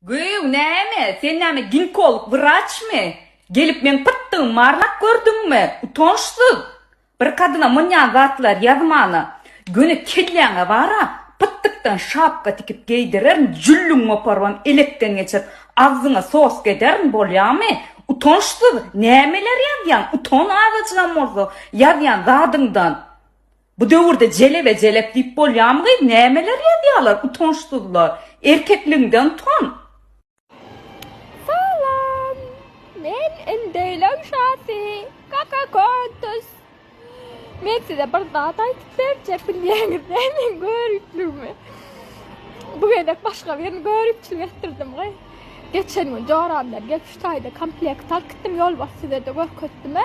Göýüň näme, sen näme ginkolog wraçmy? Gelip meň pytdygymy marlap gördüňmi? Utançsyz! Bir kadyna mynýan zatlar ýazmana. Göni kelläňe bar-a, pytdykdan şapka tikip geýdirerin, jülliňi goparybam elekden geçirip, agzyňa soska ederin, bolýamy? Utançsyz! Nämeler ýazýaň? Utan azajygam bolsa ýazýan zadyňdan! Bu döwürde jelebe jelep diýip bolýamygy nämeler ýazýalar utançsyzlar erkekligiňden utan. Salam. Men indeýleň şasy Kaka Kontus. Men size bir zat aýdyp berjek bilýäňiz dä meň göripligimi. Bu gezek başga birini göripçilik etdirdim goý. Geçen gün joramdan gelip şu taýda komplekt alyp gitdim ýolbars size-de görkezdim-ä.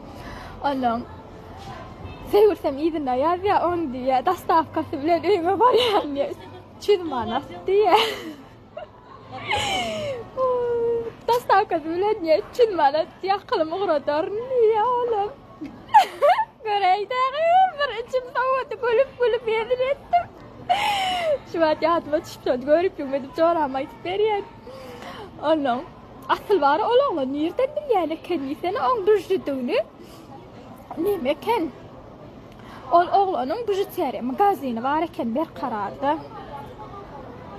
Onuň sögürsem yzyna ýazýar, on diýýär, dostawkasy bilen öýüme barýan diýýär. Üç ýüz manat diýýär. Dostawkasy bilen diýýär, üç ýüz manat diýýär, akylymy ugradaryn diýýär olam. Göräý dagy, bir içim sowady, gülüp-gülüp hezil etdim. Şu wagt ýadyma düşüpdi, görüpligime diýip jorama aýdyp berýän. Onuň Asylbary ol oglan nirden bilýän eken diýsene oň bžjüdigini? Neme eken? Ol oglanyň bžüteriýa magazini bar eken Berkararda.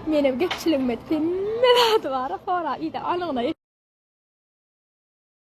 Menem gepçiligimde hemme zady bar, hora ýa-da anygyna